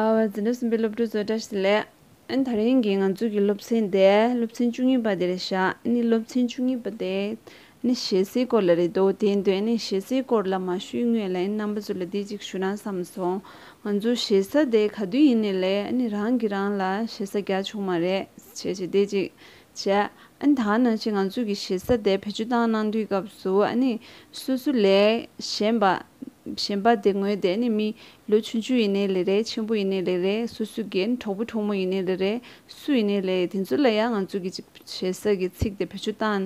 ཨ་ཝེ། འཛིན་གྲྭ་གསུམ་པའི་སློབ་ཕྲུག་ཚོ་བཀྲ་ཤིས་ལགས། ཨ་ནི་ད་རིང་གི་ང་ཚོ་གི་སློབ་ཚན་དེ་སློབ་ཚན་བཅུ་གཉིས་པ་དེ་རེད་ཤག་ཨ་ནི་སློབ་ཚན་བཅུ་གཉིས་པ་དེ་ཨ་ནི་ཞེ་སའི་སྐོར་ལ་རེད་འདུག་དེ་འདོད་ཨ་ནི་ཞེ་སའི་སྐོར་ལ་མ་ཞུས་སྔོན་ལ་ཨ་ནི་རྣམ་པ་ཚོ་ལ་འདི་གཅིག་ཞུ་ན་བསམ་སོང། ང་ཚོ་ཞེ་ས་དེ་ག་དུས་ཡིན་ནས་ལས་ཨ་ནི་རང་གི་རང་ལ་ཞེ་ས་རྒྱག་བྱུང་མ་རེད་བྱས་བྱས་དེ་གཅིག་བྱས། ཨ་ནི་ད་ང་ཅིག་ང་ཚོ་གི་ཞེ་ས་དེ་བེད་སྤྱོད་བཏང་གནང་དུས་སྐབས་སུ་ཨ་ནི་སོ་སོ་ལས་གཞན་པ། གཞན་པ་དེ་སྔོན་བསྡད་ནས་མི། ལོ་ཆུང་ཆུང་ཡིན་ནའི་ལེ་རེད་ཆེན་པོ་ཡིན་ནའི་ལེ་རེད་སོ་སོའི་རྒན་གྲོགས་པོ་གྲོགས་མོ་ཡིན་ནའི་ལེ་རེད་སུ་ཡིན་ནའི་ལེ་རེད་དེ་ཚོ་ལ་ཡང་ང་ཚོ་གི་ཅིག་བྱེད་ས་གི་ཚིག་དེ་བེད་སྤྱོད་བཏང་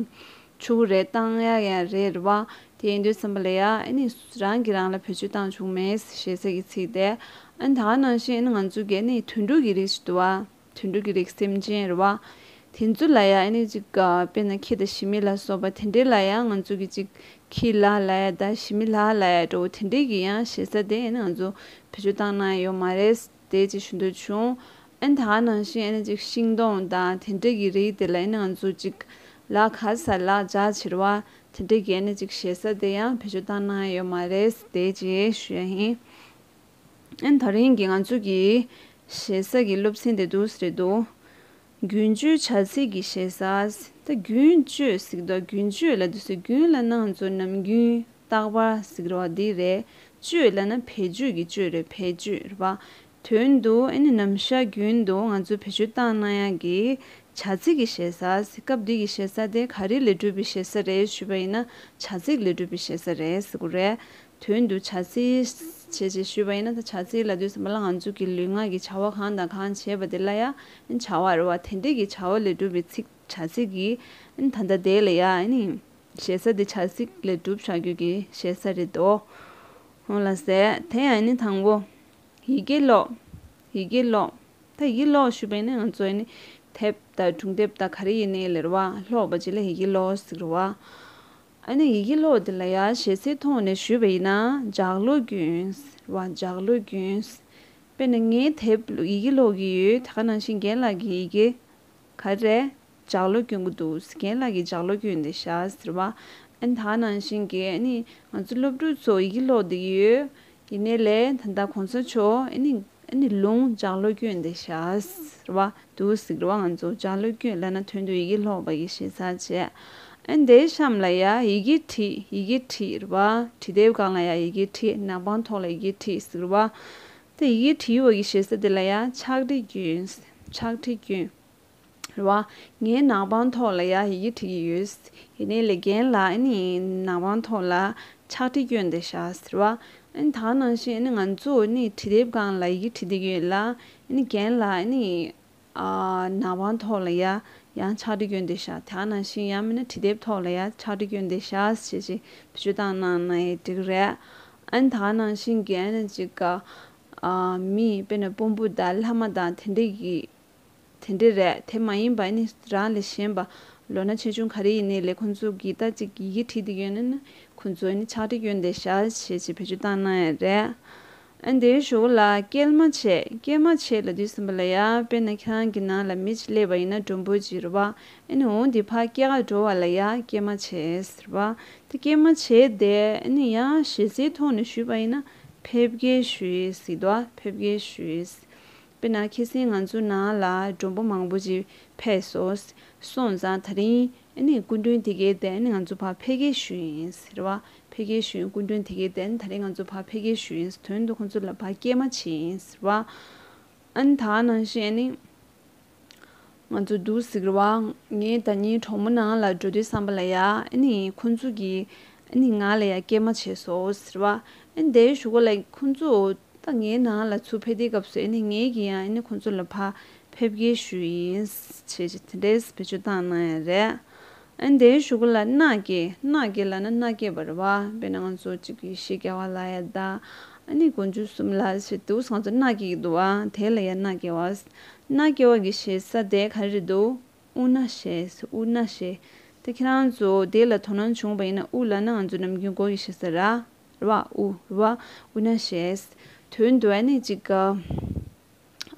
ཆུག་གི་རེད་བཏང་ཡ་ཡ་རེད་བ་དེ་ཡིན་དུས་བསམ་པ་ལེ་ཡ་ཨེ་ནི་རང་གི་རང་ལ་བེད་སྤྱོད་བཏང་ཆུག་མེད་ཞེས་ས་གི་ཚིག་དེ་ཨེ་ནི་ད་ག་ནང་བཞིན་ཨེ་ནི་ང་ཚོ་གི་ཨེ་ནི་དུད་འགྲོ་གི་རིགས་ཞིག་དུ་བ། དུད་འགྲོ་གི་རིགས་སེམས་ཅན་རེད་བ། དེ་ཚོ་ལ་ཡང་ཨེ་ནས་ཅིག་ག་དཔེར་ན་ཁྱི་དང་ཞི་མི་ལ་སོགས་པ་དེ་འདྲའི་ལ་ཡང་ང་ཚོ་གི་ཅིག་ཁྱི་ལ་ལ་ཡ་དང་ཞི་མི་ལ་ལ་ཡ་འགྲོ་བོ་དེ་འདྲའི་གི་ཡང་ཞེ་ས་དེ་ཨེ་ནས་ང་ཚོ་བེད་སྤྱོད་བཏང་ན་ཡོད་མ་རེད་དེ་ཅིག་ཞུ་འདོད་བྱུང། ཨེ་ད་ག་ནང་བཞིན་ཨེ་ནས་ཅིག་ཤིང་སྡོང་དང་དེ་འདྲའི་གི་རིགས་དེ་ལ་ཨེ་ནས་ང་ཚོ་ཅིག་ལག་ཁ་ས་ལག་རྒྱ་བྱེད་རེད་བ་དེ་འདྲའི་གི་ཨེ་ནས་ཅིག་ཞེ་ས་དེ་ཡང་བེད་སྤྱོད་བཏང་ན་ཡོད་མ་རེད་དེ་ཅིག་ཞུ་ཡ་ཡིན། ད་རིང་གི་ང་ཚོ་གི་ཞེ་ས་གི་སློབ་ཚན་དེ་དུ་རེད་དོ། རྒྱུན་སྤྱོད་བྱ་ཚིག་གི་ཞེ་ས། ད་རྒྱུན་སྤྱོད་གཟིགས་འདུག་རྒྱུན་སྤྱོད་ལ་དུ་སེ་རྒྱུན་ལ་ན་ང་ཚོ་ནམ་རྒྱུན་རྟག་པར་གཟིགས་རོགས་འདི་རེད། སྤྱོད་ལ་ན་བེད་སྤྱོད་ཀྱི་སྤྱོད་རེད་བེད་སྤྱོད་རེད་པ། དོན་དུ་ཨེ་ནི་ནམ་ཞར་རྒྱུན་དུ་ང་ཚོ་བེད་སྤྱོད་བཏང་ན་ཡང་གི་བྱ་ཚིག་གི་ཞེ་ས། སྐབས་འདི་གི་ཞེ་ས་དེ་ག་རེ་ལས་གྲུབ་པའི་ཞེ་ས་རེད་ཞུས་པ་ཡིན་ན་བྱ་ཚིག་ལས་གྲུབ་པའི་ཞེ་ས་རེད་ཟེར་གོ་རེད། དོན་དུ་བྱ་རྩིས་བྱེད་ཅེས་ཞུས་པ་ཡིན་ན་ད་བྱ་རྩིས་ལ་དུས་ཟ་མ་ལ་ང་ཚོ་གི་ལུས་ངག་གི་བྱ་བ་གང་དང་གང་བྱེད་པ་དེ་ལ་ཡང་བྱ་བར་བ་དན་ཏིག་གི་བྱ་བ་ལས་གྲུབ་པའི་ཚིག་བྱ་རྩིས་ཀྱིས་ད་ལྟ་དེ་ལ་ཡང་ཞེ་ས་དེ་བྱ་རྩིས་ལས་གྲུབ་བྱ་རྒྱུད་ཀྱི་ཞེ་ས་རེད་དོ། ལ་ཟེར། དེ་ཡང་དང་པོ། ཡི་གེ་ཀློག། ཡི་གེ་ཀློག། ད་ཡི་གེ་ཀློག་ཞུས་པ་ཡིན་ན་ང་ཚོ་དེབ་དང་སྒྲུང་དེབ་དང་ག་རེ་ཡིན་ནའི་ལེར་བ་ཀློག་པ་བྱེད་ལ་ཡི་གེ་ཀློག་ཟེར་རོ། ཨ་ནི་ཡི་གེ་ཀློག་འདི་ལ་ཡ་ཞེ་སའི་ཐོག་ནས་ཞུས་པ་ཡིན་ན་འཇགས་ཀློག་རྒྱུནས་ར་འཇགས་ཀློག་རྒྱུནས། དཔེར་ན་ངས་དེབ་ཡི་གེ་ཀློག་གི་ཡོད་དེ་ག་ནང་བཞིན་རྒན་ལགས་ཀྱི་ཡི་གེ་ག་རེ་འཇགས་ཀློག་རྒྱུན་གི་འདུག་ཟེར་རྒན་ལགས་ཀྱི་འཇགས་ཀློག་རྒྱུན་འདི་ཞག་ཟེར་བ་ཨ་ནི་ད་ག་ནང་བཞིན་གི་ཨ་ནི་ང་ཚོ་སློབ་ཕྲུག་ཚོ་ཡི་གེ་ཀློག་འདི་ཡོད་ཡིན་ནའི་ལས་ད་ལྟ་གོང་ས་མཆོག་ཨ་ནི། ཨ་ནི་ལུང་ལྗགས་བློ་རྒྱུད་འདི་བཞག། ཟེར་བ། དུ་ཟིག་རོ་ང་ཚོ་ལྗགས་བློ་རྒྱུད་བླ་ན་དོན་དུ་ཡི་གེ་ལྷོག་པ་ཡི་ཞེ་སར་བྱས། ཨ་ནི་དེའི་གཤམ་ལ་ཡ་ཡི་གེ་བྲིས་ཡི་གེ་བྲིས་རེད་བ། བྲིས་དེའི་སྒང་ལ་ཡ་ཡི་གེ་བྲིས་ནག་པང་ཐོག་ལ་ཡི་གེ་བྲིས་ཟིག་རེད་བ། དེ་ཡི་གེ་བྲིས་ཡོད་བ་ཡི་ཞེ་ས་དེ་ལ་ཡ་ཕྱག་བྲིས་རྒྱུན། ཕྱག་བྲིས་རྒྱུན། རེ་བ། ངའི་ནང་པང་ཐོག་ལ་ཡག་ཡི་གེ་བྲིས་ཀྱི་ཡོད། ཡིན་ནའི་ལེ་རྒན་ལགས་ཨེ་ནི་ནང་པང་ཐོག་ལ་ཕྱག་བྲིས་བསྐྱོན་ཏེ་བཞག་ཟེར་བ། ཨེ་ནི་ད་ནང་བཞིན་ཨེ་ནི་ང་ཚོ་ཨེ་ནི་བྲིས་དེབ་གང་ལ་ཡི་གེ་བྲིས་བསྡད་ཀྱི་ཡོད་ལ། ཨེ་ནི་རྒན་ལགས་ཨེ་ནི། ནང་པང་ཐོག་ལ་ཡ་ཡང་ཕྱག་བྲིས་བསྐྱོན་ཏེ་བཞག་ད་ནང་བཞིན་ཡང་མིན་ན་བྲིས་དེབ་ཐོག་ལ་ཡ་ཕྱག་བྲིས་བསྐྱོན་ཏེ་བཞག་ཞེས་ཅིག་བེད་སྤྱོད་བཏང་ན་ནི་འགྲིག་རེད། ཨེ་ནི་ད་ནང་བཞིན་རྒན་ཅིག་གམ། མི་དཔེ་ན་དཔོན་པོ་དང་ལྷ་མ་དང་དེ་འདྲ་ཡི། དེ་འདྲས་རེད་དེ་མ་ཡིན་པ་ནི་རང་ལས་གཞན་པ་ལོ་ན་ཆེ་ཆུང་ག་རེ་ཡིན་ནི་ལས་ཁོང་ཚོ་གིས་ད་ཅིག་ཡི་གེ་བྲིས་ཏེ་ཡོད་ན་ནི་ཁོང་ཚོས་ནི་ཕྱག་བྲིས་གྱོན་ཏེ་ཞལ་བཞེས་ཀྱི་བེད་སྤྱོད་བཏང་གནང་ཡས་རེད་ཨ་འདིའི་ཞོ་བོ་ལ་སྐྱེལ་མ་བྱས་སྐྱེལ་མ་བྱས་ལ་དུས་ཟིན་པ་ལ་ཡ་དཔེར་ན་ཁྱེད་རང་གི་ནང་ལ་མི་གཅིག་སླེབས་པ་ཡིན་ན་འགྲོ་འབོད་ཀྱི་རེད་བ་ཨ་ནི་འོང་དེ་ཕ་སྐྱེལ་ག་འགྲོ་བ་ལ་ཡ་སྐྱེལ་མ་བྱས་རེད་བ་དེ་སྐྱེལ་མ་བྱས་དེ་ཨ་ནི་ཡ་ཞེ་སའི་ཐོག་ནས་ཞུས་པ་ཡིན་ན་ཕེབས་སྐྱེལ་ཞུས་ཡས་སྲིད་བ་ཕེབས་སྐྱེལ་ཞུས་ཡས་དཔེར་ན་ཁྱེད་སེང་ང་ཚོའི་ནང་ལ་མགྲོན་པོ་མང་པོ་ཞིག་ཕེབས་སོང། སོང་ཙང་ད་རིང་ཨནི་སྐུ་མགྲོན་དེ་གའི་དན་ང་ཚོ་ཕར་ཕེབས་སྐད་ཞུས་ཡིན། རེད་བ། ཕེབས་སྐད་ཞུས་ཡིན་སྐུ་མགྲོན་དེ་གའི་དན་ད་རིང་ང་ཚོ་ཕར་ཕེབས་སྐད་ཞུས་ཡིན་དོན་དུ་ཁོང་ཚོ་ལ་ཕར་སྐད་མ་བྱས་ཡིན། རེད་བ། ཨནི་ད་ནང་བཞིན་ཨནི། ང་ཚོ་སྡུག་གཟིགས་ར་བ་ངས་ད་ཉིན་གྲོགས་མོ་ནང་ལ་འགྲོ་དུས་བསམ་པ་ལ་ཡ་ཨ་ནི་ཁོང་ཚོ་གིས་ཨ་ནི་ང་ལ་ཡ་སྐད་མ་བྱས་སོ་ཟེར་བ་ཨ་ནི་དེའི་ཞུ་ག་ལ་ཁོང་ཚོ་ད་ངའི་ནང་ལ་ཚུར་ཕེབས་དེའི་སྐབས་སུ་ཨ་ནི་ངས་གིས་ཡང་ཨ་ནི་ཁོང་ཚོ་ལ་ཕ་ཕེབས་སྐད་ཞུས་ཡིན་བྱས་རྗེས་དེ་འདྲས་བེད་སྤྱོད་བཏང་གནང་ཡ་རེད་ཨན་དེའི་ཞུ་གུ་ལ་སྣག་སྐྱེས་སྣག་སྐྱེས་ལ་ན་སྣག་སྐྱེས་པར་བ་དཔེར་ན་ང་ཚོ་གཅིག་གིས་ཤིག་སྐྱ་བ་ལ་ཡ་ད་ཨན་ནི་གོ་འཇུ་གསུམ་ལ་ཞེས་འདུག་ཟངས་ཚོ་སྣག་སྐྱེས་ཀྱི་འདུག་བ་དེ་ལ་ཡ་སྣག་སྐྱེས་བ་སྣག་སྐྱེས་བ་གི་ཞེས་ས་དེ་ག་རེ་འདུག་ཨུ་ན་ཞེས་ཨུ་ན་ཞེས་ད་ཁྱེད་རང་ཚོ་དེ་ལ་དོ་སྣང་བྱུང་བ་ཡིན་ན་ཨུ་ལ་ན་ང་ཚོ་ནམ་རྒྱུན་གོ་གི་ཞེས་ས་ར་བ་ཨུ་ར་བ་ཨུ་ན་ཞེས་དོན་དུ་ཨན་ནི་གཅིག་ག།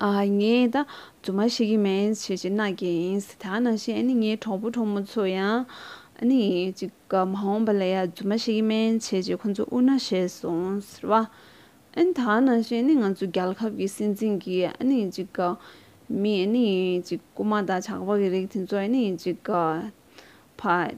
ངས་ད་རྫུན་མ་བཤད་ཀྱི་མིན་ཞེས་ཅེ་ནཱ་གྱིས་ཡིན་ད་ནང་བཞིན་ཨ་ནི་ངའི་གྲོགས་པོ་གྲོགས་མོ་ཚོ་ཡང་ཨ་ནི་ཅིག་མ་འོངས་པ་ལ་ཡང་རྫུན་མ་བཤད་ཀྱི་མིན་ཞེས་ཅེ་ཁོ་ཚོ་དབུ་ན་བཞེས་སོང་ཟེར་བ། ཨ་ནི་ད་ནང་བཞིན་ཨ་ནི་ང་ཚོ་རྒྱལ་ཁབ་ཀྱི་སྲིད་འཛིན་གྱི་ཨ་ནི་ཅིག་མི་ཨ་ནི་ཅིག་རྐུ་མ་དང་ཇག་པ་གི་རིགས་དེ་ཚོ་ཨ་ནི་ཅིག་ཕ།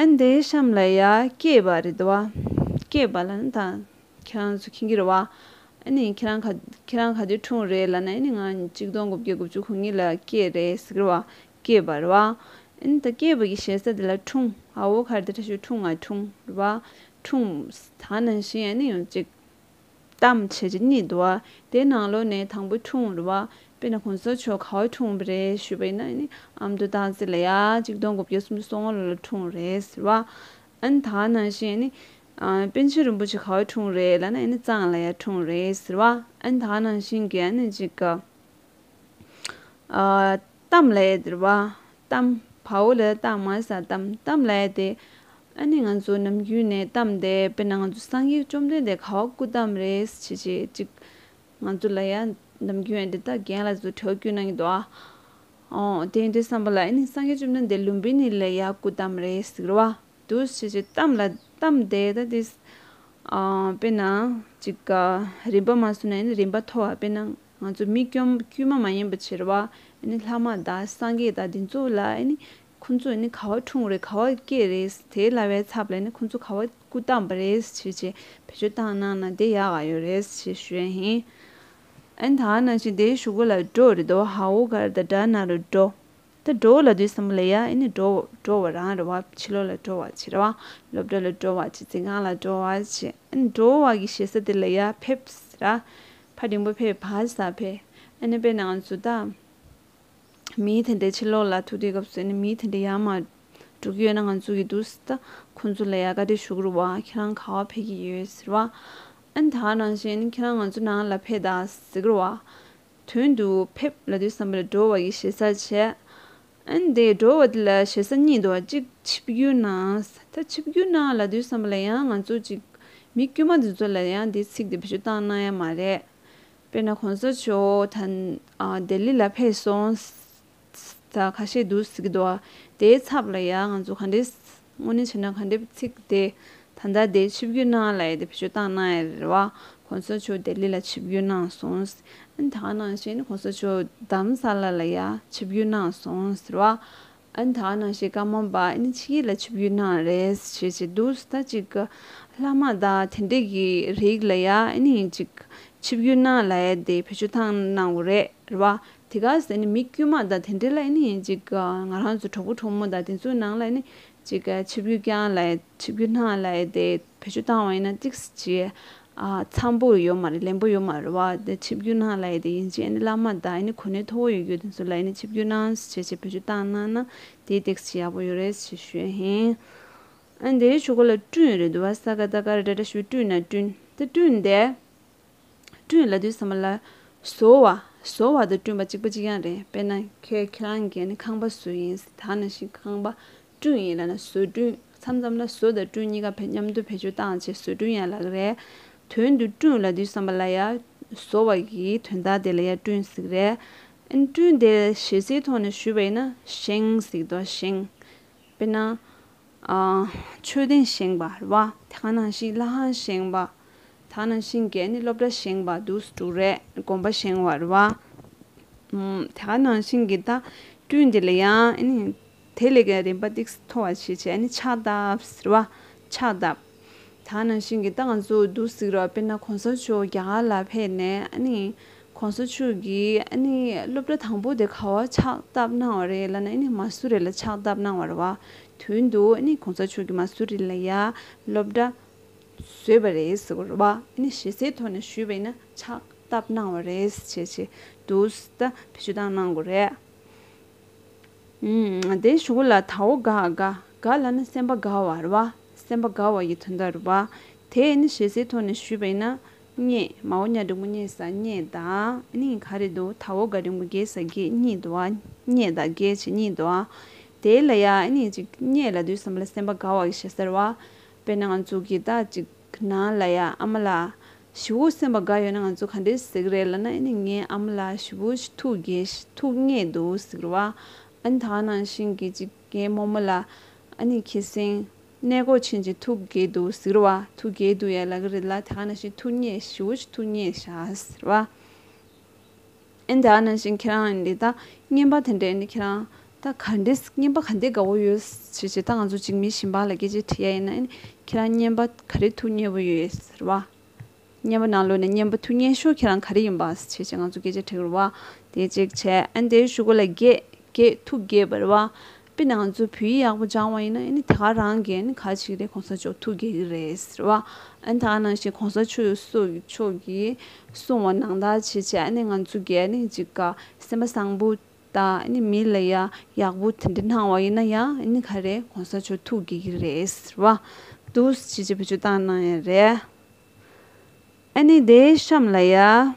ཨན་དེ་ཤམ་ལ་ཡ་སྐྱེས་པ་རེད་བ། སྐྱེས་པ་ལ་ནི་ད་ཁྱེད་རང་ཚོ་ཁྱི་འགྱུར་བ། ཨན་ནི་ཁྱེད་རང་ཁྱེད་རང་ག་དུས་འཁྲུངས་རེད་ལ་ནི་ཨན་ནི་ང་གཅིག་སྟོང་དགུ་བརྒྱ་དགུ་བཅུ་གོ་གཉིས་ལ་སྐྱེས་རེད་ཟེར་གི་བ། སྐྱེས་པ་རེད་བ། ཨན་ནི་ད་སྐྱེས་པ་གི་ཞེ་ས་དེ་ལ་འཁྲུངས་ཨ་བོ་གར་དེ་ཁྲ་ཤུལ་འཁྲུངས་ང་འཁྲུངས་རེད་བ། འཁྲུངས། ད་ནང་བཞིན་ཨན་ནི་ཡང་གཅིག། གཏམ་བྱེད་ཀྱི་གཉིད་འདུག་བ་དེ་ནང་ལོ་ནས་དང་པོ་འཁྲུངས་བར་བ་དཔེ་ན་ཁོང་ཚོ་ཆོ་ག་བས་འཁྲུངས་པ་རེད་ཞུས་པ་ཡིན་ན་ནི་ཨ་མདོ་སྟག་རྩེ་ལ་ཡ་གཅིག་སྟོང་དགུ་བརྒྱ་སུམ་ཅུ་སོ་ལྔ་ལོ་ལ་འཁྲུངས་རེད་ཟེར་བ་ཨན་ད་ནང་བཞིན་ཡིན་ནི། པན་ཆེན་རིན་པོ་ཆེ་ག་བས་འཁྲུངས་རེད་ལ་ན་ཡིན་ནི་གཙང་ལ་ཡ་འཁྲུངས་རེད་ཟེར་བ་ཨན་ད་ནང་བཞིན་གྱི་ཨ་ནི་གཅིག་གི། གཏམ་ལས་འདིར་བ་གཏམ་བའོ་ལས་གཏམ་མ་ས་གཏམ་གཏམ་ལས་དེ་ཨ་ནི་ང་ཚོ་ནམ་རྒྱུན་ནས་གཏམ་བདེ་དཔེར་ན་ང་ཚོ་སངས་རྒྱས་བཅོམ་ལྡན་འདས་ཁ་བ་སྐུ་གཏམ་རེད་ཅེས་བྱེད་ཅིག་ང་ཚོ་ལ་ཡ་ནམ་རྒྱུན་ཨ་འདི་ལྟར་རྒན་ལ་ཚོ་ཁྲེལ་རྒྱུ་གནང་གི་འདུག་ཨ་འོ་དེ་འདྲའི་བསམ་པ་ལ་ཨ་ནི་སངས་རྒྱས་བཅོམ་ལྡན་འདས་ལུང་པའི་ནི་ལས་ཡ་སྐུ་གཏམ་རེད་ཟིག་ར་བ་འདུག་ཅེས་བྱེད་གཏམ་ལ་གཏམ་བདེ་ད་དེ་ཨ་དཔེར་ན་ཅིག་རིམ་པ་མ་སོན་ན་ཨ་ནི་རིམ་པ་མཐོ་བ་དཔེར་ན་ང་ཚོ་མི་སྐྱོམ་དཀྱུས་མ་མ་ཡིན་པ་ཕྱིར་བ་ནི་ལྷ་མ་དང་སངས་རྒྱས་དང་དེ་ཚོ་ལ་ནི་ཁོ་ཚོས་ནི་ག་བ་འཁྲུངས་རེད་ག་བ་སྐྱེས་རེད་དེའི་ལྭ་བའི་ཚབ་ལ་ནི་ཁོ་ཚོ་ག་བ་སྐུ་བལྟམས་པ་རེད་ཕྱིར་ཅེས་བེད་སྤྱོད་བཏང་གནང་ན་དེ་ཡག་ག་ཡོད་རེད་ཅེས་ཞུས་ཡ་ཧིན། ཨན་ད་ནང་བཞིན་དེའི་ཞུ་སྒོ་ལ་འགྲོ་རེ་ད་བ་ཧའོ་གར་ད་དྲ་ན་རུ་འགྲོ། ད་འགྲོ་བ་ལ་དུས་སམ་ལེ་ཡ་ཨེ་ནི་འགྲོ་བ་འགྲོ་བ་རང་རེ་བ་ཕྱི་ལོག་ལ་འགྲོ་བ་ཕྱི་རེ་བ་སློབ་གྲྭ་ལ་འགྲོ་བ་ཕྱི་རྫིང་ཁང་ལ་འགྲོ་བ་ཕྱི་ཨེ་ནི་འགྲོ་བ་གི་ཞེ་ས་དེ་ལེ་ཡ་ཕེབས་ཟེ་ར་ཕ་རིང་པོ་ཕེབས་བ་ས་ཕེ་ཨེ་ནི་དཔེར་ན་ང་ཚོ་ད་མི་དེ་འདྲའི་ཕྱི་ལོག་ལ་ཐུག་དུས་སྐབས་སུ་ཨེ་ནི་མི་དེ་འདྲའི་ཡ་མ་དྲུག་ཡོད་ན་ང་ཚོ་གི་འདུག་ཟེ་ད་ཁོང་ཚོ་ལེ་ཡ་ཀ་དེ་ཞུགས་རུ་བ་ཁྱེད་རང་ག་བ་ཕེ་གི་ཡོད་ཟེ་ར་བ་ཨེ་ནི་ད་རང་བཞིན་ཨེ་ནི་ཁྱེད་རང་ང་ཚོ་ནང་ལ་ཕེ་ད་ཟེ་གི་ར་བ་དོན་དུ་ཕེབས་ལ་དུས་བསམ་པ་ལ་འགྲོ་བ་ཡི་ཞེ་ས་བྱེད། དེ་འགྲོ་བ་དེ་ལ་ཞེ་ས་གཉིས་འདུག་གཅིག་ཆིབས་བསྒྱུར་ནང་ད་ཆིབས་བསྒྱུར་ནང་ལ་དུས་བསམ་པ་ལ་ཡང་ང་ཚོ་ཅིག་མི་དཀྱུས་མ་འདི་ཚོ་ལ་ཡང་འདི་ཚིག་འདི་བེད་སྤྱོད་བཏང་གནང་ཡ་མ་རེད། དཔེར་ན་གོང་ས་མཆོག་ད་ལྡི་ལི་ལ་ཕེབས་སོང། ཚིག་རྩ་ཁ་ཤས་འདུག་ཟིག་རྡོ་ཨ། དེའི་ཚབ་ལ་ཡང་ང་ཚོ་ག་འདྲས་དངོས་གནས་བྱས་ན་ག་འདྲས་ཚིག་དེ་ད་ལྟ་དེ་ཆིབས་བསྒྱུར་གནང་ལ་ཡས་དེ་བེད་སྤྱོད་བཏང་གནང་ཡས་རེད་བ། གོང་ས་མཆོག་ལྡི་ལི་ལ་ཆིབས་བསྒྱུར་གནང་སོང་ཟིག་ཨ། ད་ནང་བཞིན་གོང་ས་མཆོག་དམ་ས་ལ་ལ་ཡས་ཆིབས་བསྒྱུར་གནང་སོང་ཟེར་བ། ཨ་ད་ནང་བཞིན་བཀའ་མོལ་པ་ཨ་ནི་ཕྱི་ཡིག་ལ་ཆིབས་བསྒྱུར་གནང་རེད་ཟེར་བྱེད་འདུག་ཟིག་ད་ཅིག་ལྷ་མ་དག་དེ་འདྲས་ཀྱི་རིགས་ལ་ཡས་ཨ་ནི་ཡིན་ཅིག་ཆིབས་བསྒྱུར་གནང་ལ་ཡས་དེ་བེད་སྤྱོད་བཏང་གནང་གོ་རེད་རེད་བ། དེ་ག་ཟེར་ནི་མི་དཀྱུས་མ་དང་དེ་འདྲའི་ལ་ཡིན་ནི་ཡིན་ཅིག་ང་རང་ཚོ་གྲོགས་པོ་གྲོགས་མོ་དང་དེ་ཚོའི་ནང་ལ་ཡིན་ནི་ཅིག་ཆིབས་ཡུལ་རྐྱང་ལ་ཆིབས་ཡུལ་སྣང་ལ་དེ་བེད་སྤྱོད་བཏང་བ་ཡིན་ན་ཅིག་ཅི་འཚམས་པོ་ཡོད་མ་རེད་ལན་པོ་ཡོད་མ་རེད་བ་དེ་ཆིབས་ཡུལ་སྣང་ལ་དེ་ཡིན་ཅིག་ཡིན་ནི་བླ་མ་དང་ཡིན་ནི་གོ་གནས་མཐོ་བོ་ཡོད་རྒྱུ་དེ་ཚོ་ལ་ཡིན་ནི་ཆིབས་ཡུལ་སྣང་ཞེས་བེད་སྤྱོད་བཏང་གནང་ན་དེ་ཅིག་ཅི་ཡག་པོ་ཡོད་རེད་ཞེས་ཞུས་ཧིན། དེའི་ཆུ་ཁོ་ལ་བསྐྲུན་ཡོད་རེད་འདུག་བ་ས་ག་ད་ག་རེ་འདྲ་འདྲ་ཞུས་བསྐྲུན་ན་བསྐྲུན་དེ་བསྐྲུན་དེ། བསྐྲུན་ལ་དུས་ཟ་མ་ལ། བཟོ་བ། བཟོ་བ་དང་བསྐྲུན་པ་གཅིག་པ་གཅིག་ཡང་རེད་དཔེར་ན། ཁྱེད་ཁྱེད་རང་གིས་ནི་ཁང་པ་བཟོས་ཡིན་ཟེར་ད་ནང་བཞིན་ཁང་པ་བསྐྲུན་ཡིན་ལ་ན་བཟོས་བསྐྲུན་མཚམས་མཚམས་ལ་བཟོ་དང་བསྐྲུན་གཉིས་ཀ་བས་མཉམ་དུ་བེད་སྤྱོད་བཏང་བྱས་བཟོས་བསྐྲུན་ཡན་ལག་རེད། དོན་དུ་བསྐྲུན་ལ་དུས་ཟ་མ་ལ་ཡ། བཟོ་བ་ཡི་དོན་དག་དེ་ལ་ཡ་བསྐྲུན་ཟིག་རེད། བསྐྲུན་དེ་གཞས་ཚིག་ཐོག་ནས་ཞུས་པ་ཡིན་ན་བཞེངས་ཟིག་དོ་བཞེངས། དཔེར་ན། མཆོད་རྟེན་བཞེངས་པ་རེད་བ། དེ་ག་ནང་བཞིན་བླ་ཁང་བཞེངས་པ། ད་ག་ནང་བཞིན་རྒྱལ་ནི་སློབ་གྲྭ་བཞེངས་པ་དུ་དྲུག་རེད་དགོན་པ་བཞེངས་བ་རེད་བ། དེ་ག་ནང་བཞིན་གྱི་ད་སྤྲུལ་འདི་ལ་ཡང། དེ་ལས་ཀྱང་རིམ་པ་ཏིག་སི་མཐོ་བ་ཞིག་བྱས་ནི་ཕྱག་བཏབ་ཟེར་བ། ཕྱག་བཏབ། ད་ནང་བཞིན་གྱི་ད་ང་ཚོ་འདུག་གཟིགས་རོགས་དཔེར་ན་གོང་ས་མཆོག་རྒྱ་གར་ལ་ཕེབས་ནས་ཨ་ནི། གོང་ས་མཆོག་གིས་ཨ་ནི་སློབ་གྲྭ་དང་པོ་དེ་ག་བ་ཕྱག་བཏབ་གནང་བ་རེད་ལ་ན་ཨི་ནི་མ་སུ་རི་ལ་ཕྱག་བཏབ་གནང་བར་བ་དུས་འདུག་ཨི་ནི་གོང་ས་མཆོག་གིས་མ་སུ་རི་ལ་ཡ་སློབ་གྲྭ་བཟོས་པ་རེད་ཟེར་བར་བ་ཨི་ནི་ཞེ་སའི་ཐོག་ནས་ཞུས་པ་ཨི་ན་ཕྱག་བཏབ་གནང་བ་རེད་ཅེས་བྱས་འདུག་ད་ཕེབས་ཞུ་སྟངས་གནང་དགོས་རེད། དེ་བཞུགས་ལ་དྭོགས་དགའ་དགའ་དགའ་ལ་ནི་སེམས་པ་དགའ་བ་རུ་བ་སེམས་པ་དགའ་བ་ཡི་དོན་དག་རུ་བ་དེས་ནི་ཞེ་སའི་ཐོག་ནས་ཞུས་པ་ཡིན་ན། རྙེད་མའོ་གཉའ་འབྲིང་པོ་རྙེད་ས་རྙེད་ད་ནི་ག་རེད་དུ་དྭོགས་དགའ་འབྲིང་པོ་རྒྱས་ས་རྒྱས་རྙེད་དུ་བ་རྙེད་ད་རྒྱས་བྱེད་རྙེད་དུ་བ་དེ་ལ་ཡ་ནི་ཅིག་རྙེད་ལ་དུས་གསུམ་ལ་སེམས་པ་དགའ་བ་ཡི་ཞེ་སར་བ་དཔེར་ན་ང་ཚོ་གི་ད་ཅིག་ཁྱེད་ནང་ལ་ཡ་ཨ་མ་ལགས། ཞི་བོ་སེམས་པ་དགའ་ཡོད་ན་ང་ཚོ་ག་འདྲའི་ཟེགས་རེད་ལ་ན་ཨེ་ནི་ངའི་ཨ་མ་ལགས་ཞི་བོ་ཞི་ཐུགས་རྒྱལ་ཞི་ཐུགས་རྙེད་འདུག་ཟེགས་རེད་བ། ཨ་ནི་ད་ག་ནང་བཞིན་གྱི་ཅིག་ངའི་རྨོ་མོ་ལ། ཨ་ནི་ཁྱེད་སེང་གནས་སྒོ་ཕྱིན་ཅིག་ཐུགས་རྒྱལ་འདུག་ཟེགས་རེད་བ། ཐུགས་རྒྱལ་འདུག་ཡ་ལ་ག་རེད་ལ་ད་ག་ནང་བཞིན་ཐུགས་རྙེད་ཞི་བོ་ཞི་ཐུགས་རྙེད་ཞག་ཟེགས་རེད་བ། ཨེ་འདྲ་ནང་བཞིན་ཁྱེད་རང་འདི་ལྟ་སྙན་པ་དེ་འདྲས་ནི་ཁྱེད་རང་ད་ག་འདྲས་སྙན་པ་ག་འདྲས་དགའ་བོ་ཡོད་ཟེར་བྱས་ད་ང་ཚོ་འཇིགས་མེད་ཞིང་པ་ལ་སྐད་ཆ་དྲི་ཡ་ཡིན་ན་ཁྱེད་རང་སྙན་པ་ག་རེ་ཐུགས་མཉེས་པོ་ཡོད་ཟེར་བ། སྙན་པ་ནང་ལོས་ནས་སྙན་པ་ཐུགས་མཉེས་ཤོག་ཁྱེད་རང་ག་རེ་ཡིན་པ་ཟེར་བྱས་ང་ཚོ་སྐད་ཆ་དྲི་རུ་བ་དེ་གཅིག་བྱས་ཨེ་འདྲས་ཞུ་གོ་ལ་རྒྱས་རྒྱས་ཐུགས་རྒྱས་བར་བ། དཔེར་ན་ང་ཚོ་བོད་ཡིག་ཡག་པོ་སྦྱང་བ་ཡིན་ན་ཡིན་དེ་ག་རང་གིས་ཡིན་ག་ཅིག་རེད་གོང་ས་མཆོག་ཐུགས་དགྱེས་ཀྱི་རེད་ཟེར་བ་ཡིན་ད་ནང་བཞིན་གོང་ས་མཆོག་གིས་གསུང་བ་ནང་དག་བྱེད་ཆེད་ང་ཚོ་གས་ཅིག་ག་སེམས་པ་བཟང་པོ་དང་མི་ལ་ཡག་པོ་དེ་འདྲ་སྣང་བ་ཡིན་ན་ཡང་ག་རེད་གོང་ས་མཆོག་ཐུགས་དགྱེས་ཀྱི་རེད་ཟེར་བ་འདུག་བྱེད་ཆེད་བོད་ཆོས་བཏང་གནང་ཡ་རེད་ཨ་ནི་དེའི་གཤམ་ལ་ཡ།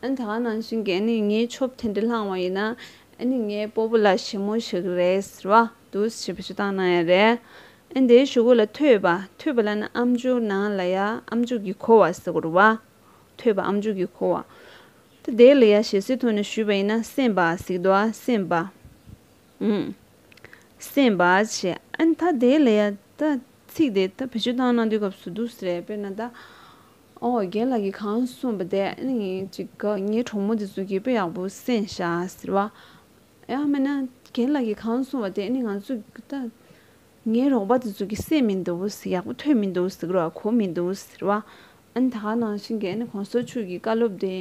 ཨ་ད་ནང་བཞིན་གྱི་ཨ་ནི་ངའི་ཆོབ་དེ་འདྲ་ལྷང་བ་ཡིན་ན་ཨ་ནི་ངའི་སྤོ་བོ་ལ་ཞི་མོ་ཞིག་རེད་ཟེར་བ་འདུག་ཞེས་པ་ཞུ་སྟངས་གནང་ཡ་རེད། ཨ་དེའི་ཞུ་སྒོ་ལ་ཐོས་པ་ཐོས་པ་ལ་ནི་ཨམ་ཆུང་ནང་ལ་ཡ་ཨམ་མཇུག་གིས་འཁོར་བ་ཟེར་སྐོར་བ། ཐོས་པ་ཨམ་མཇུག་གིས་འཁོར་བ། ད་དེའི་ལ་ཡ་ཞེ་སའི་ཐོག་ནས་ཞུས་པ་ཡིན་ན་སེམས་པ་ཟིག་འདུག་ཨ་སེམས་པ། འུམ། སེམས་པ་ཞེས་ཨ་ད་དེའི་ལ་ཡ་ད་ཚིག་དེ་ད་བེད་སྤྱོད་སྟངས་གནང་དུས་སྐབས་སུ་འདུག་ཟེར་ཡ་དཔེར་ན་ད། ཨོ་རྒྱན་ལགས་ཀྱིས་གང་གསུངས་པ་དེ་ཨེ་ཡིན་ཅིག་ག་ངའི་གྲོགས་མོ་དེ་ཚོ་རྒད་པོ་ཡག་པོ་སེམས་ཤ་ཟེར་བ། ཡང་མིན་ན་རྒན་ལགས་ཀྱིས་གང་གསུངས་པ་དེ་ཨེ་ཡིན་ང་ཚོ་ད་ངའི་རོགས་པ་དེ་ཚོ་གི་སེམས་མི་འདུག་ཡག་པོ་ཐོས་མི་འདུག་ཟེར་རོ་གོ་མི་འདུག་ཟེར་བ། ཨ་ནི་ད་ག་ནང་བཞིན་གྱི་ཨ་ནི་གོང་ས་མཆོག་གི་བཀའ་སློབ་དེ་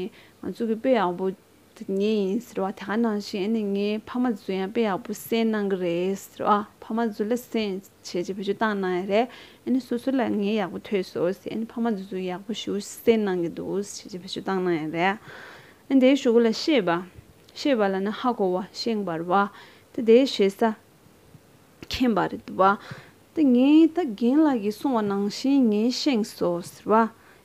ང་ཚོ་གི་དཔེ་ཡག་པོ། དེ་ངའི་ཡིན་ཟེར་བ་དེ་ག་ནང་བཞིན་ཨ་ནི་ངའི་ཕ་མ་བརྫུན་ཡང་དཔེ་ཡག་པོ་གསན་གནང་གི་རེད་ཟེར་བ་ཕ་མ་བརྫུན་ལ་གསན་བྱས་རྗེས་བེད་སྤྱོད་བཏང་གནང་ཡ་རེད་ཨ་ནི་སོ་སོ་ལ་ངས་ཡག་པོ་ཐོས་སོ་ཟེར་ཨ་ནི་ཕ་མ་བརྫུན་བརྫུན་ཡག་པོ་ཞུ་གསན་གནང་གི་འདུག་བྱས་རྗེས་བེད་སྤྱོད་བཏང་གནང་ཡ་རེད་ཨ་ནི་དེའི་ཞུ་གུ་ལ་ཤེས་པ་ཤེས་པ་ལ་ནི་ཧ་གོ་བ་ཤེས་འབར་བ་དེ་དེའི་ཞེ་ས་མཁྱེན་པ་རེད་བ་དེ་ངས་ད་རྒན་ལགས་ཀྱིས་གསུང་བ་ནང་བཞིན་ངས་བཤེངས་སོ་ཟེར་བ་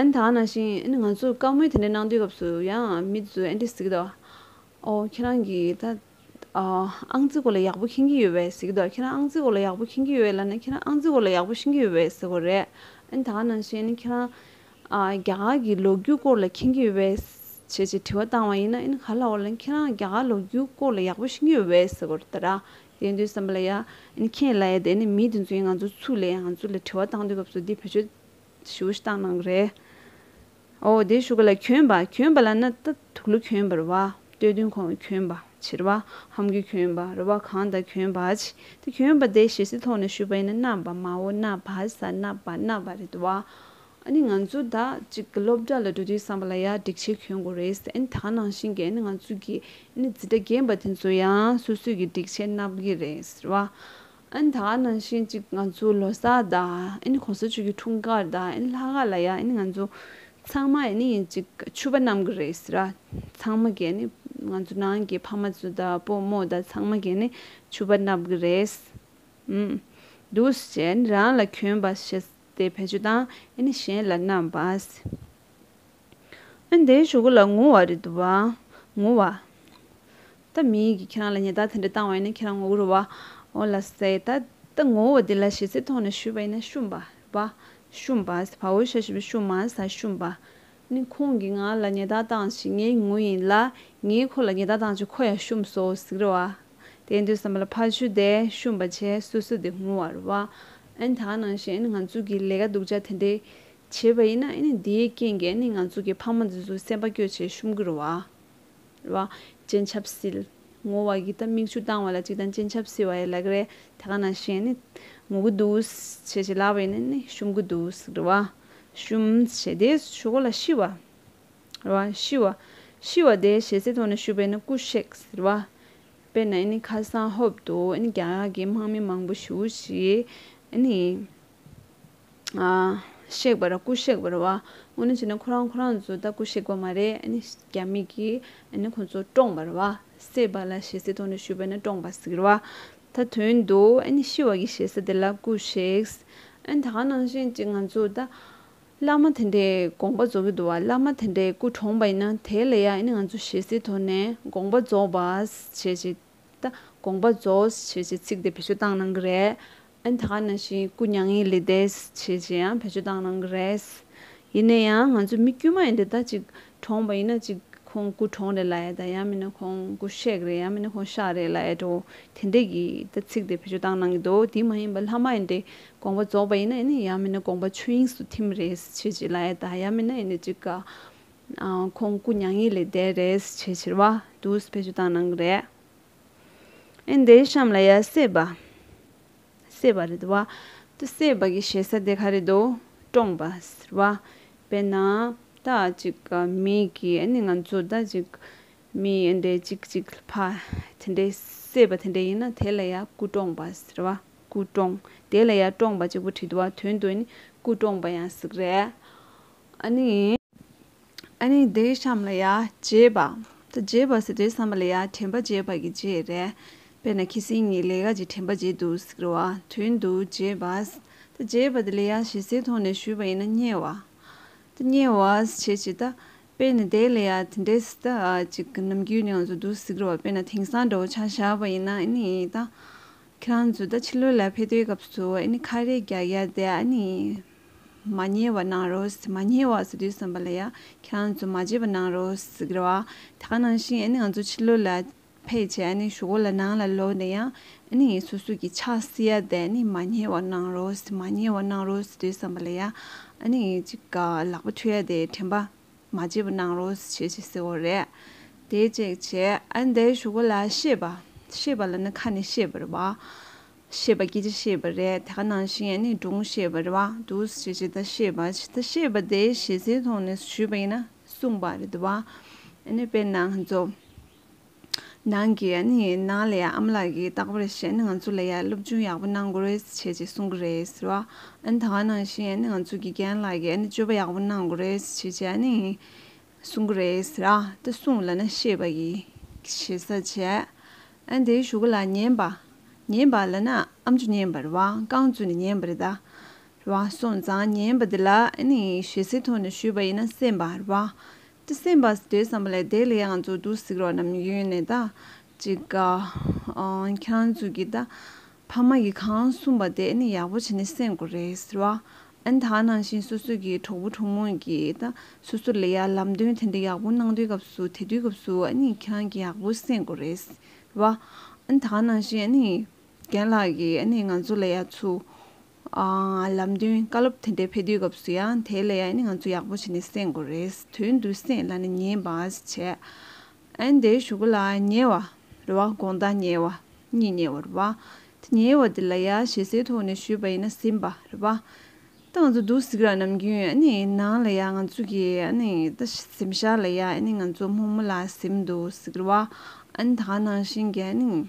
ཨན་ད་ནང་བཞིན་ཨན་ང་ཚོས་བཀའ་མོལ་དེ་འདྲ་གནང་དུས་སྐབས་སུ་ཡང་མི་དེ་ཚོས་ཨན་དེ་ཟེར་གི་འདུག་ཨོ་ཁྱེད་རང་གིས་ད་ཨང་རྩིས་སྐོར་ལ་ཡག་པོ་མཁྱེན་གྱི་ཡོད་བས་ཟེར་གི་འདུག་ཁྱེད་རང་ཨང་རྩིས་སྐོར་ལ་ཡག་པོ་མཁྱེན་གྱི་ཡོད་ལབ་ན་ཁྱེད་རང་ཨང་རྩིས་སྐོར་ལ་ཡག་པོ་ཤེས་ཀྱི་ཡོད་བས་ཟེར་གོ་རེད། ཨན་ད་ནང་བཞིན་ཁྱེད་རང་རྒྱ་གར་གྱི་ལོ་རྒྱུས་སྐོར་ལ་མཁྱེན་གྱི་ཡོད་བས་ཞེས་ཞེས་དྲི་བ་བཏང་བ་ཡིན་ན་ཨན་ག་ལ་འོ་ལན་ཁྱེད་རང་རྒྱ་གར་ལོ་རྒྱུས་སྐོར་ལ་ཡག་པོ་ཤེས་ཀྱི་ཡོད་བས་ཟེར་གོ་རེད་ད། དེ་དུས་བསམ་པ་ལ་ཡ་ཨན་ཁྱེད་ལ་ཡ་དེ་ནི་མི་དེ་ཚོས་ང་ཚོ་ཚུར་ལས་ང་ཚོ་ལ་དྲི་བ་བཏང་དུས་སྐབས་སུ་འདི་བོད་ཆོས་ཞུ་ཤི་ཏང་ནང་རེད། ཨོ་དེ་ཞུ་ག་ལ་གྱོན་པ་གྱོན་པ་ལ་ན་ད་དུག་ལུ་གྱོན་པ་རུ་བ་སྟོད་བདུན་གོང་ལ་གྱོན་པ་བྱི་རུ་བ་ཧམ་དགུ་གྱོན་པ་རུ་བ་གང་ད་གྱོན་པ་བྱི་ད་གྱོན་པ་དེ་ཞེ་སི་ཐོག་ན་ཞུ་བ་ཡིན་ན་ན་བ་མ་འོ་ན་བ་ས་ན་བ་ན་བ་རེད་དུ་བ་ཨ་ནི་ང་ཚོ་ད་ཅིག་གི་སློབ་གྲ་ལ་འགྲོ་དུས་བསམ་པ་ལ་ཡ་འགྲིག་ཆེ་གྱོན་དགོ་རེད་ཨ་ནི་ད་ནང་བཞིན་གྱི་ཨ་ནི་ང་ཚོ་གི་ཨ་ནི་ཛི་དྲ་རྒན་པ་དེ་ཚོ་ཡང་སོ་སོས་གི་འགྲིག་ཆེ་ན་བ་གི་རེད་ཟེར་བ། ཨིན་ད་ནང་བཞིན་ཅིག་ང་ཚོ་ལོ་སར་དང་ཨིན་གོང་ས་མཆོད་ཀྱི་འཁྲུངས་སྐར་དང་ཨིན་ལྷ་སྐར་ལ་ཡང་ཨིན་ང་ཚོ་ཚང་མ་ཨིན་ཡིན་ཅིག་ཆུ་བ་རྣམས་ཀྱི་རེད་ཟེར་ར་ཚང་མ་གས་ནི་ང་ཚོ་ནང་གི་ཕ་མ་ཚོ་དང་སྤོ་རྨོ་དང་ཚང་མ་གས་ནི་ཆུ་བ་རྣམས་ཀྱི་རེད་ཨིན་འདུག་ཞེས་ཨིན་རང་ལ་གྱོན་པ་ཞེས་ཏེ་བེད་སྤྱོད་དང་ཨིན་གཞན་ལ་བསྣམས་པ། ཨན། དེའི་ཆུ་ཁོ་ལ་ངུ་བ་རེད་འདུག་བ། ངུ་བ། ད་མིན་གི་ཁྱེད་རང་ལ་ཉེ་བརྡ་དེ་འདྲ་བཏང་བ་ཡིན་ན་ཁྱེད་རང་ངོ་རྒོལ་བ། འོ་ལ་སེ། ད་ད་ངོ་བོ་དེ་ལ་ཞེ་སའི་ཐོག་ནས་ཞུས་པ་ཡིན་ན་ཤུ། བ། ཤུ། བ། བ་བོའི་ཤ་ཞེས་པའི་ཤུ་མ་ཟ་ཤུ། བ། ནི་ཁོང་གིས་ང་ལ་ཉེ་བརྡ་བཏང་ཞིག་ངས་ངུ་ཡིན་ལ། ངས་ཁོ་ལ་ཉེ་བརྡ་བཏང་ཅིག་ཁོ་ཡང་ཤུ་སོ་ཟིག་རེད་བ། དེ་འདོད་བསམ་པ་ལ་ཕ་ཆུ་དེ་ཤུ་བ་བྱས་སོ་སོ་དེ་ངུ་བ་རེད་བ། ཨན། ད་ནང་བཞིན་ང་ཚོ་གི་ལས་ཀ་སྡུག་ཅག་དེ་འདྲའི་བྱེད་པ་ཡིན་ན་འདིའི་རྐྱེན་གྱིས་ང་ཚོ་གི་ཕ་མ་འཛིན་བཟུང་སེམས་པ་སྐྱོ་ཆེ་ཤུམ་གུར་བ། སྤྱན་ཆབ་བསིལ། ངོ་བ་ཡི་ད་མིག་ཆུ་བཏང་བ་ལ་གཅིག་དང་སྤྱན་ཆབ་བསིལ་བ་ཡི་ལ་གི་རེད་དེ་ག་ན་བཞིན་ངུ་གི་འདུག་བྱེད་བྱེད་ལབ་པ་ཡིན་ན་ཤུམ་གི་འདུག་གི་རེད། ཤུམ། བྱེད་དེ་ཆུ་གོ་ལ་ཤི་བ། ཤི་བ། ཤི་བ་དེ་བྱེད་སའི་ཐོག་ནས་ཤུ་བས་ན་སྐུ་གཤེགས། དཔེར་ན་ཁ་སང་ཧོབ་ཏུ་རྒྱ་གར་གྱི་དམག་མི་མང་པོ་ཞུགས་ཤིག། གཤེགས་པར་སྐུ་གཤེགས་པར་བ་དངོས་ནི་བྱས་ན་ཁོ་རང་ཁོ་རང་ཚོ་ད་སྐུ་གཤེགས་པ་མ་རེད་ཨཱ་ནི་རྒྱ་མི་གིས་ཁོ་ཚོ་བཀྲོངས་པར་བ་བསད་པ་ལ་ཞེ་སའི་ཐོག་ནས་ཞུས་པ་ན་བཀྲོངས་པ་ཟེར་བ་ད་དོན་འདུག་ཨཱ་ནི་ཤི་བ་གི་ཞེ་ས་དེ་ལ་སྐུ་གཤེགས། ཨཱ་ནི་ད་ག་ནང་བཞིན་ཅིག་ང་ཚོ་ད་བླ་མ་དེ་འདྲའི་དགོངས་པ་རྫོགས་ཀྱི་འདུག་བ་བླ་མ་དེ་འདྲའི་སྐུ་བཀྲོངས་པ་ཡིན་ན་དེ་ལ་ཡང་ཨཱ་ནི་ང་ཚོ་ཞེ་སའི་ཐོག་ནས་དགོངས་པ་རྫོགས་པ་བྱེད་ཅིག། ད་དགོངས་པ་རྫོགས་ཞེས་བྱའི་ཚིག་དེ་བེད་སྤྱོད་བཏང་གནང་གི་རེད། ད་ག་ན་བཞིན་སྐུ་མྱ་ངན་ལས་འདས་ཞེས་བྱས་ཡང་བེད་སྤྱོད་བཏང་གནང་གི་རེད། ཡིན་ན་ཡང་ང་ཚོ་མི་དཀྱུས་མ་ཡིན་ཏེ་ད་ཅིག་གྲོངས་པ་ཡིན་ན་ཅིག་ཁོང་སྐུ་གྲོངས་རེད་ལ་ཡ་ད་ཡང་མིན་ན་ཁོང་སྐུ་གཤེགས་རེད་ཡང་མིན་ན་ཁོང་ཤག་རེད་ལ་ཡ་འགྲོ་དེ་འད་ཀྱི་ད་ཚིག་དེ་བེད་སྤྱོད་བཏང་གནང་གི་འདུག་དེ་མ་ཡིན་པ་ལྷ་མ་ཡིན་ཏེ་དགོངས་པ་རྫོགས་པ་ཡིན་ན་ཡང་མིན་ན་དགོངས་པ་ཆོས་དབྱིངས་སུ་ཐིམ་རེད་ཞེས་བྱས་ལ་ཡ་ད་ཡང་མིན་ན་ཡིན་ན་ཅིག་ག་ཁོང་སྐུ་མྱ་ངན་ལས་འདས་རེས་བྱས་ཕྱིར་བ་དུས་ཕལ་ཆེར་བཏང་གནང་གི་རེད། ཨེ་འདའི་གཤམ་ལ་ཡ་སེ་བ། སེ་བ་རེད་བ། དུ་སེ་བ་གི་ཞེ་ས་དེ་ག་རེད་དོ། བཀྲོངས་པ། ཟེར་བ། དཔེར་ན། ད་ཅིག་མི་གི་ཨེ་ནི་ང་ཚོ་ད་ཅིག་མི་ཨེ་འདའི་ཅིག་ཅིག་ཕ། དེ་འདའི་སེ་བ་དེ་འདའི་ཡིན་ན་དེ་ལ་ཡ་སྐུ་བཀྲོངས་པ་ཟེར་བ། སྐུ་བཀྲོངས། དེ་ལ་ཡ་བཀྲོངས་པ་ཅིག་པོ་བྲིས་འདུག་བ་དོན་དུ་ཨེ་ནི་སྐུ་བཀྲོངས་པ་ཡང་ཟིག་རེད། ཨ་ནི། ཨ་ནི་དེའི་གཤམ་ལ་ཡ། རྗེས་པ། རྗེས་པ་ཟེར་དུས་བསམ་པ་ལ་ཡ་དྲན་པ་རྗེས་པ་གི་རྗེས་རེད། དཔེར་ན་ཁྱི་སེང་ངས་ལས་ཀ་གྱི་དྲན་པ་བརྗེད་འདུག་ཟེར་བ་དོན་དུ་རྗེས་པ། རྗེས་པ་དེ་ལས་ཡ་ཞེས་ཟེར་ཐོག་ནས་ཞུས་པ་ཡིན་ན་བསྙེལ་བ། བསྙེལ་བ་བྱེད་ཅེས་ད། དཔེར་ན་དེའི་ལས་ཡ་དེ་འདྲས་ད་ཅིག་ནམ་རྒྱུན་ནང་དུ་འདུག་ཟེར་བ་དཔེར་ན་དེང་སང་འགྲོ་བ་ཆ་བཞག་པ་ཡིན་ན་ཨ་ནི་ད། ཁྱེད་རང་ཚོས་ད་ཕྱི་ལོའི་ལ་ཕེ་ཏོའི་སྐབས་སུ་ཨ་ནི་ཁ་རས་རྒྱག་ཡ་དེ་ཨ་ནི། མ་བསྙེལ་བར་གནང་རོགས། མ་བསྙེལ་བ་ཟེར་དུས་བསམ་པ་ལ་ཡ། ཁྱེད་རང་ཚོ་མ་བརྗེད་པར་གནང་རོགས། ཟེར་གི་རེད། དེ་ག་ནང་བཞིན་ང་ཚོ་ཕྱི་ལོགས་ལ་ཕེབས་རྗེས་ཞོག་གོ་ལ་ནང་ལ་ལོག་ནས་ཡང་ངེད་སོ་སོ་གྱི་ཕྱག་བསིལ་ཡར་བསྡད་ནས་མ་བསྙེལ་བར་གནང་རོགས། མ་བསྙེལ་བར་གནང་རོགས་ཟེར་དུས་བསམ་པ་ལ་ཡ། ལག་པ་འཁྲུ་ཡ་དེ་དྲན་པ། མ་བྱས་པ་གནང་རོགས་ཞེས་ཞེས་ཟེར་བ་རེད། དེ་བཅས་བྱས། ཨ་འདའི་བཞུགས་སྒར་ལ་ཤེས་པ། ཤེས་པ་ལ་ནི་ཁ་ནས་ཤེས་པ་རེད་བ། ཤེས་པ་སྐད་ཆ་ཤེས་པ་རེད་དེ་ག་ནང་བཞིན་ཡང་ནི་སྒྲུང་ཤེས་པ་རེད་བ་འདུག་ཞེས་ཇི་ལྟར་ཤེས་པ་ཇི་ལྟར་ཤེས་པ་དེ་ཞེ་སའི་ཐོག་ནས་ཞུས་པ་ཡིན་ན་གསུངས་པ་རེད་བ། ཨ་ནི་དཔེར་ན་ང་ཚོ། ནང་གི་ཨ་ནེ་ཡིན་ནང་ལའི་ཨམ་ལགས་ཀྱིས་རྟག་པར་བཤད་ན་ང་ཚོ་ལ་ཡར་སློབ་སྦྱོང་ཡག་པོ་གནང་དགོས་རེད་ཟེར་བྱས་ཅེས་གསུང་གི་རེད་ཟེར་བ་ཨ་ནེ་ད་ག་ནང་བཞིན་ཨ་ནེ་ང་ཚོ་དགེ་རྒན་ལགས་ཀྱིས་ཨ་ནེ་སྤྱོད་པ་ཡག་པོ་གནང་དགོས་རེད་ཟེར་བྱས་ཅེས་ཨ་ནེ་ཡིན་གསུང་གི་རེད་ཟེར་ཨ་ལྟ་གསུང་ལ་ན་ཤེས་པ་ཡི་ཤེས་ས་བྱས་ཨ་ནེ་དེའི་ཞུ་ག་ལ་ཉན་པ་ཉན་པ་ལ་ན་ཨམ་ཆུ་ཉན་པ་རེད་བ་རྐང་བཙུགས་ནས་ཉན་པ་རེད་ད་རེད་བ་སོང་ཙང་ཉན་པ་དེ་ལ་ཨ་ནེ་ཡིན་ཞེས་ཟིན་ཐོ་ནས་ཞུས་པ་ཡིན་ན་སེམས་པ་རེད་བ་ཏི་སེ་འབའ་སི་དེའི་བསམ་པ་ལས་དེ་ལས་ཡང་ཚོ་དུ་སིག་རོགས་རྣམས་ཡོད་ནས་ད་ཅིག་ག་ཁྱེད་རང་ཚོ་གི་ད་ཕ་མ་གི་གང་གསུངས་པ་དེ་ནི་ཡག་པོ་བྱེད་ནས་སེམས་དགོས་རེད་ཟེར་བ་ཨན་ད་ནང་བཞིན་སོ་སོ་གི་གྲོགས་པོ་གྲོགས་མོ་གི་ད་སོ་སོ་ལས་ཡ་ལམ་སྟོན་དེ་འདྲ་ཡག་པོ་གནང་དུས་སྐབས་སུ་དེ་དུས་སྐབས་སུ་ཨ་ནི་ཁྱེད་རང་གི་ཡག་པོ་སེམས་དགོས་རེད་ཟེར་བ་ཨན་ད་ནང་བཞིན་ཨ་ནི་རྒན་ལགས་གི་ཨ་ནི་ང་ཚོ་ལས་ཡ་ཚོ་ལམ་སྟོན་བཀའ་སློབ་དེ་འདྲའི་ཕེབས་དུས་སྐབས་སུ་ཡང་དེའི་ལས་ཡང་ནི་ང་ཚོ་ཡག་པོ་བྱས་ནས་གསན་དགོས་རེད་དོན་དུ་གསན་ལ་ནི་ཉེས་པ་བྱས་ཨ་འདའི་ཞུ་སྒོ་ལ་ཉེ་བ་རེད་བ་དགོངས་དག་ཉེ་བ་གཉིས་ཉེ་བ་རེད་བ་དེ་ཉེ་བ་དེ་ལ་ཡ་ཞེ་སའི་ཐོག་ནས་ཞུས་པ་ཡིན་ན་ཟིན་པ་རེད་བ་ད་ང་ཚོ་འདུག་སི་ཀར་ནམ་རྒྱུན་ཨ་ནི་ནང་ལ་ཡ་ང་ཚོ་གི་ཨ་ནི་ད་གཟིམ་ཤག་ལ་ཡ་ཨ་ནི་ང་ཚོ་མོག་མོ་ལ་གཟིམ་འདུག་སི་ཀར་བ་ཨ་ནི་ད་ག་ནང་བཞིན་གྱི་ཨ་ནི།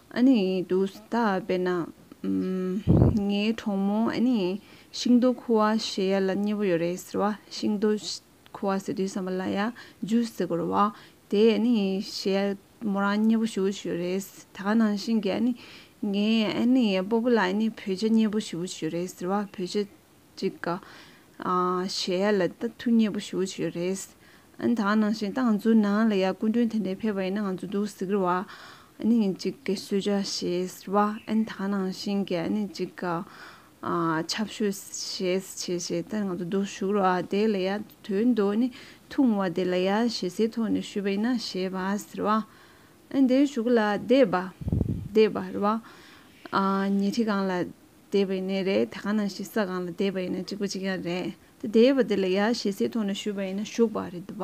ཨ་ནི་དུ་ཟླ་དཔེར་ན། ངའི་གྲོགས་མོ་ཨ་ནི་ཤིང་རྡོ་ཁུ་བ་བྱེད་ཡ་ལ་མཉེས་པོ་ཡོད་རེད་ཟེར་བ་ཤིང་རྡོ་ཁུ་བ་ཟེར་དུས་བསམ་པ་ལ་ཡ་ཇུ་ཟེར་དགོས་རེད་བ། དེ་ཨ་ནི་བྱེད་ཡ་མོ་རང་མཉེས་པོ་ཞུ་བོ་ཞུ་རེད་ད་ག་ནང་བཞིན་གྱི་ཨ་ནི། ངའི་ཨ་ནི་སྤོ་པོ་ལ་ཨ་ནི་བོད་ཆས་མཉེས་པོ་ཞུ་བོ་ཞུ་རེད་ཟེར་བ་བོད་ཆས་གཅིག་ག། གཞལ་ཡས་ལ་ད་ཐུག་མཉེས་པོ་ཞུ་བ་བྱོས་རེད། ཨ་ནི་ད་ནང་བཞིན་ཏང་ཙུའུ་ནང་ལ་ཡ་སྐུ་མགྲོན་དེ་འདྲས་ཕེབས་པ་ཡིན་ན་ང་ཚོ་འདུག་ཟིག་རེད་བ། ཨ་ནི་ཡིན་གཅིག་ག་གསོལ་ཇ་བྱེད་རེད་བ། ཨ་ནི་ད་ནང་བཞིན་གྱི་ཨ་ནི་གཅིག་ག། ཆབ་ཤོས་བྱེད་བྱེད་བྱེད་ད་ནི་ང་ཚོ་འདུག་ཞུགས་རོགས་ཨ་དེ་ལ་ཡ་དོན་དུ་ཨ་ནི་ཐུག་མ་བ་དེ་ལ་ཡ་ཞེ་སའི་ཐོག་ནས་ཞུས་པ་ཡིན་ན་བྱེད་བ་ཟེར་བ། ཨ་ནི་དེ་ཞུ་གི་ལ་བསྡད་བ། བསྡད་བ་རེད་བ། ཉེ་ཁྲི་གང་ལ། བསྡད་པ་ཡིན་ནི་རེད་དེ་གང་ནང་ཞིག་ས་གང་ལ་བསྡད་པ་ཡིན་ན་གཅིག་པ་གཅིག་ཡང་རེད་དེ་བསྡད་པ་དེ་ལ་ཡ་ཞེ་སའི་ཐོག་ནས་བཞུགས་པ་ཡིན་ན་བཞུགས་པ་རེད་བ་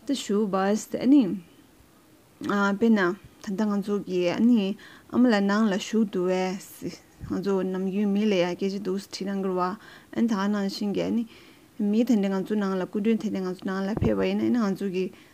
ད་བཞུགས་པ་ཟེར་ཨ་ནི། དཔེར་ན་ད་ལྟ་ང་ཚོ་གི་ཨ་ནི་ཨ་མ་ལ་ནང་ལ་བཞུགས་འདུག་བས་ང་ཚོ་ནམ་རྒྱུན་མི་ལ་ཡ་སྐད་ཅིག་འདུག་ཟེར་ཁྲིད་ན་འགུར་བ་ཨ་ནི་ད་གང་ནང་བཞིན་གྱི་ཨ་ནི། མི་དེ་འདྲ་ང་ཚོ་ནང་ལ་སྐུ་མགྲོན་དེ་འདྲ་ང་ཚོ་ནང་ལ་ཕེབས་པ་ཡིན་ན་ཨ་ནི་ང་ཚོ་གི་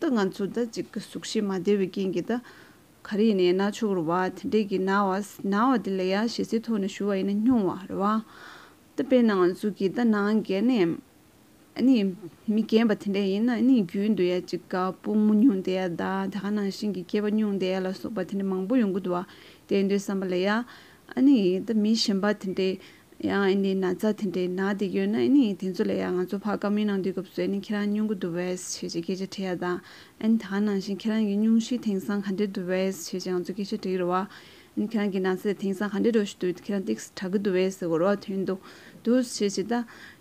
ད་ང་ཚོ་ཟླ་གཅིག་གི་གཟུགས་གཞི་མ་བདེ་བའི་རྐྱེན་གྱིས་ད་ག་རེ་ཡིན་ན་ན་ཆུང་རེ་བ་དེ་འདྲས་ཀྱིས་ན་བ་ན་བ་དེ་ལ་ཡ་ཞེ་སའི་ཐོག་ནས་ཞུ་བ་ཡིན་ན་སྨྱུང་བ་རེ་བ་ད་དཔེར་ན་ང་ཚོ་གིས་ད་ནང་འགལ་ནས་ནི་མི་རྒན་པ་དེ་འདྲས་ཡིན་ན་ནི་རྒྱུན་དུ་ཡ་གཅིག་ག་སྤུན་མོ་སྨྱུང་དེ་ཡ་ད་ད་ག་ནང་བཞིན་གྱི་སྐྱེས་པ་སྨྱུང་དེ་ཡ་ལ་སོགས་པ་དེ་འདྲས་མང་པོ་ཡོང་གི་འདུག་བ་དེ་འདྲས་བསམ་པ་ལ་ཡ་ཨ་ནི་འདི་མི་གཞན་པ་དེ་འདྲའི་ཡང་ཨ་ནི་ན་ཚ་དེ་འདྲའི་ནག་དེ་ཡོད་ན་ཨ་ནི་དེ་ཚོ་ལས་ཡང་ང་ཚོ་བྷ་ག་མི་ནང་འདུས་སྐབས་སུ་ཨ་ནི་ཁྱེད་རང་སྨྱོན་གུ་འདུག་བས་ཞེས་ཀྱི་སྐད་ཆ་དྲི་ཡ་དང་ཨ་ནི་ད་ག་ནང་བཞིན་ཁྱེད་རང་གི་སྙུང་གཞི་དེང་སང་ག་འདྲེ་འདུག་བས་ཞེས་ཀྱི་ང་ཚོ་སྐད་ཆ་དྲི་ཡི་རུ་བ། ཨ་ནི་ཁྱེད་རང་གི་ན་ཚ་དེ་དེང་སང་ག་འདྲེ་འགྲོ་བཞིན་འདུག་ཁྱེད་རང་ཏིགས་སུ་གྲག་གི་འདུག་བས་ཟེར་བ་རུ་བ་དོན་དུ་འདུག་ཞེས་ཀྱི་ད་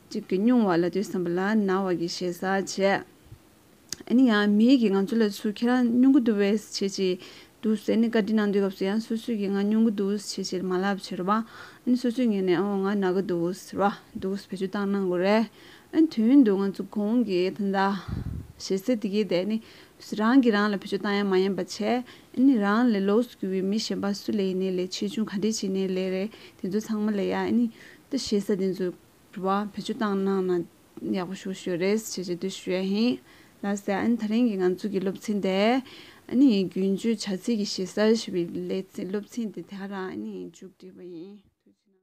ཅིག་གི་སྨྱུང་བ་ལ་དུས་སམ་བ་ལ་ན་བ་གི་ཞེ་ས་བྱས། ཨ་ནི་ཡང་མིའི་གིས་ང་ཚོ་ལ་ཚུར་ཁྱེད་རང་སྨྱོ་འགུ་འདུག་བས་བྱེད་ཅིག་འདུག་ཟེར་ནས་བཀའ་དྲིན་གནང་དུས་སྐབས་སུ་ཡང་སོ་སོས་ཀྱིས་ང་སྨྱོ་འགུ་འདུག་བྱེད་ཅིག་མ་ལབ་བྱེད་རོ་བ། ཨ་ནི་སོ་སོས་ངེད་ནས་ཨོ་ང་ན་ག་འདུག་ཟེར་བ། འདུག་བེད་སྤྱོད་བཏང་གནང་དགོས་རེད། ཨ་ནི་དུས་ཡུན་དུ་ང་ཚོ་གོང་གི་ད་ལྟ། ཞེས་ཟེར་དེ་གིས་དེ་ནི་རང་གིས་རང་ལ་བེད་སྤྱོད་བཏང་ཡང་མ་ཡིན་པ་བྱས། ཨ་ནི་རང་ལས་ལོགས་སུ་གྱུར་བའི་མི་གཞན་པ་སུ་ལས་ཡིན་ནའི་ལས་ཆེ་ཆུང་ག་འདྲའི་བྱེད་ནའི་ལས་རེད་དེ་ཚོ་ཚང་མ་ལས་ཡ་ཨ་ནི་ད་ཞེ་ས་དེ་ཚོས་བེད་སྤྱོད་བཏང་གནང་ན་ཡག་པོ་ཞུ་ཞུ་རེས་བྱེད་བྱེད་དུས་ཞུ་ཡ་ཧིན། ལགས་སེ་ཨ་ནི་ད་རིང་གི་ང་ཚོ་གི་སློབ་ཚན་དེ། ཨ་ནི་རྒྱུན་སྤྱོད་བྱ་ཚིག་གི་ཞེ་སར་ཞེས་པའི་ལས་ཚིག་སློབ་ཚན་དེ་དེ་ག་རང་ཨ་ནི་མཇུག་བསྒྲིལ་བ་ཡིན།